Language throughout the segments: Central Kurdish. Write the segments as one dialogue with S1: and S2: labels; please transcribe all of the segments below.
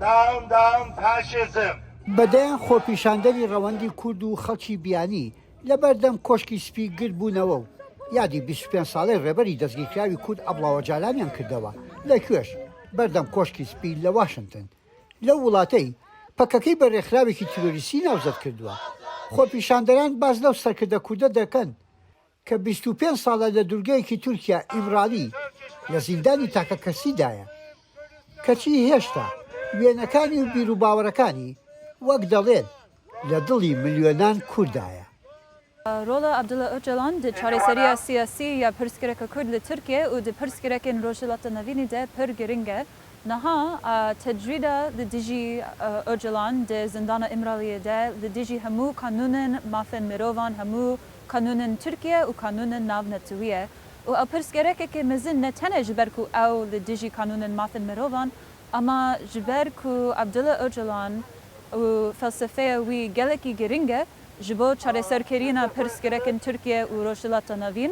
S1: داوم داوم فاشیزم. بە دەیان
S2: خۆپیشاندەری ڕەوەندی کورد و خەڵکی بیانی لە بەردەم کۆشکی سپی گرد بوونەوە و یادی بیست و پێنج ساڵەی ڕێبەری دەستگیرکراوی کورد ئەبڵاوەجالانیان کردەوە لە کوێش؟ بەردەم کۆشکی سپی لە واشنتن لەو وڵاتەی پەکەکەی بە ڕێکخراوێکی تیرۆریستی ناوزەد کردووە. خۆپیشاندەران باس لەو سەرکردە کوردە دەکەن کە بیست و پێنج ساڵە لە دورگەیەکی تورکیا ئیمرالی لە زیندانی تاکەکەسیدایە، کەچی هێشتا وێنەکانی و بیروباوەڕەکانی وەک دەڵێن لە دڵی ملیۆنان کوردایە. رۆڵە
S3: عەبدوڵا ئۆجالان د چارەسەریە سیاسی یە پرسگرەکە کورد لە تورکیە و د پرسگرەکێن رۆژهەڵاتە نەڤینی دە پر گرنگە، نها تجرید لە دژی ئۆجەلان دە زندانە ئیمرالیە دە لە دژی هەموو قانوونن مافن مرۆڤان هەموو قانوونن تورکیە و قانوونن ناو نەتویە و ئەو پرس گەرەکەکێ مەزن نە تەنە ژ بەر کوو ئەو لە دژی قانوونن مافن مرۆڤان ئەما ژ بەر کوو عەبدولا ئۆجەلان و فەلسەفەیە وی گەلەکی گرنگە ژ بۆ چارەسەر کرینا پرس گرەکن تورکیە و رۆژهلاتە ناوین.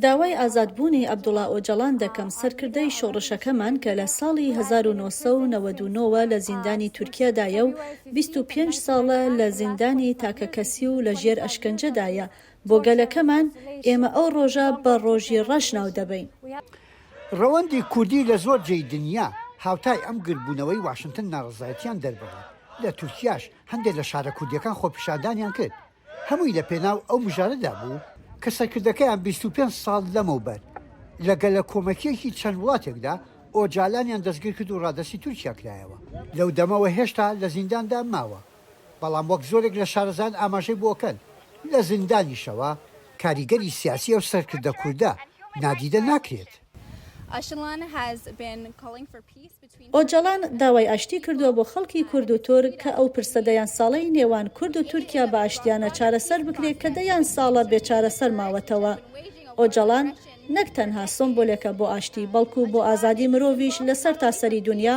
S4: داوای
S5: ئازادبوونی عەبدوڵا ئۆجەڵان دەکەم، سەرکردەی شۆڕشەکەمان کە لە ساڵی هەزار و نۆ سەد و نەوەد و نۆ وە لە زیندانی تورکیادایە و بیست و پێنج ساڵە لە زیندانی تاکەکەسی و لە ژێر ئەشکەنجەدایە بۆ گەلەکەمان، ئێمە ئەو ڕۆژە بە ڕۆژی ڕەش ناودەبەین. ڕەوەندی
S2: کوردی لە زۆر جێی دنیا هاوتای ئەم گردبوونەوەی واشنتن ناڕەزایەتیان دەربڕی، لە تورکیاش هەندێ لە شارە کوردیەکان خۆپیشاندانیان کرد، هەمووی لە پێناو ئەو مژارەدا بوو، کە سەرکردەکەیان بیست و پێنج ساڵ لەمەوبەر لە گەلەکۆمەکیەکی چەند وڵاتێکدا ئۆجالانیان دەستگیرکرد و ڕادەستی تورکیا کرایەوە، لەودەمەوە هێشتا لە زینداندا ماوە. بەڵام وەک زۆرێک لە شارەزایان ئاماژەی بۆکەن، لە زیندانیشەوە کاریگەری سیاسی ئەو سەرکردە کوردە نادیدە ناکرێت.
S5: ئۆجەڵان داوای ئاشتی کردووە بۆ خەڵکی کورد و تورک کە ئەو پرسە دەیان ساڵەی نێوان کورد و تورکیا بە ئاشتیانە چارەسەر بکرێت کە دەیان ساڵە بێ چارەسەر ماوەتەوە. ئۆجەڵان نەک تەنها سۆمبولێکە بۆ ئاشتی، بەڵکو بۆ ئازادی مرۆڤیش لە سەرتاسەری دونیا.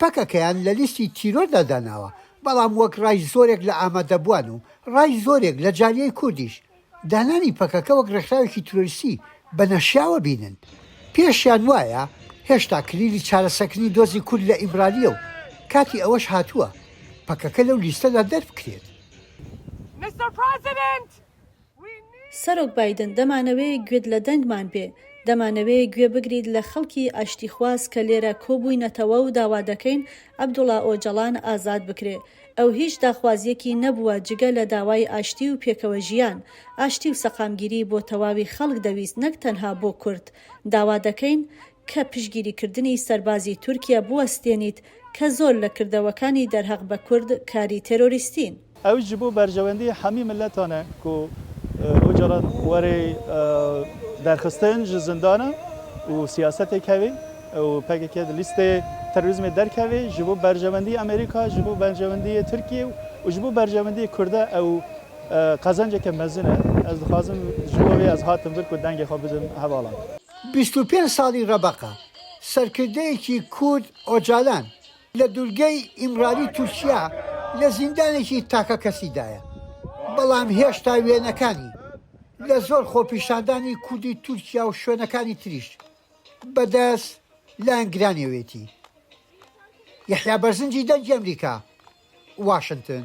S2: پەکەکەیان لە لیستی تیرۆردا داناوە، بەڵام وەک ڕای زۆرێک لە ئامادەبووان و ڕای زۆرێک لە جالیەی کوردیش، دانانی پەکەکە وەک ڕێکخراوێکی تیرۆریستی بە نەشیاوە بینن. پێشیان وایە هێشتا کلیلی چارەسەکردنی دۆزی کورد لە ئیمرالییە و کاتی ئەوەش هاتووە پەکەکە لەو لیستەدا دەربکرێت.
S5: سەرۆک بایدن، دەمانەوێ گوێت لە دەنگمان بێ، دەمانەوێ گوێ بگریت لە خەڵکی ئاشتیخواز کە لێرە کۆبووینەتەوە و داوا دەکەین عەبدوڵا ئۆجەڵان ئازاد بکرێ. ئەو هیچ داخوازییەکی نەبووە جگە لە داوای ئاشتی و پێکەوە ژیان. ئاشتی و سەقامگیری بۆ تەواوی خەڵک دەویست نەک تەنها بۆ کورد. داوا دەکەین کە پشتگیریکردنی سەربازی تورکیە بوەستێنیت کە زۆر لە کردەوەکانی دەرهەق بە کورد کاری تێرۆریستین. ئەویش جی بۆ
S6: بەرژەوەندی هەمی مللەتانە کو ئۆجەلان وەرێ دەرخستن جی زندانە و سیاسەتێ کەێ و پەکەکە لە لیستەێ تەرۆریزمێ دەرکەێ جی بۆ بەرژەوەندی ئەمەریکا، جی بۆ بەرژەوەندی تورکیە و جی بۆ بەرژەوەندی کوردە ئەو قەزەنجێکە مەزنە. ئەز دخوازم جی بۆ وێ ئەز هاتم ڤر کو دەنگێ خو بدم هەڤاڵان. بیست و پێنج
S2: ساڵی رەبەقە، سەرکردەیەکی کورد ئۆجالان لە دورگەی ئیمرالی تورکیا لە زیندانێکی تاکەکەسیدایە، بەڵام هێشتا وێنەکانی لە زۆر خۆپیشاندانی کوردی تورکیا و شوێنەکانی تریش بەدەست لایەنگرانیەوێتی. یەحیا بەرزنجی دەنگی ئەمریکا، واشنتن.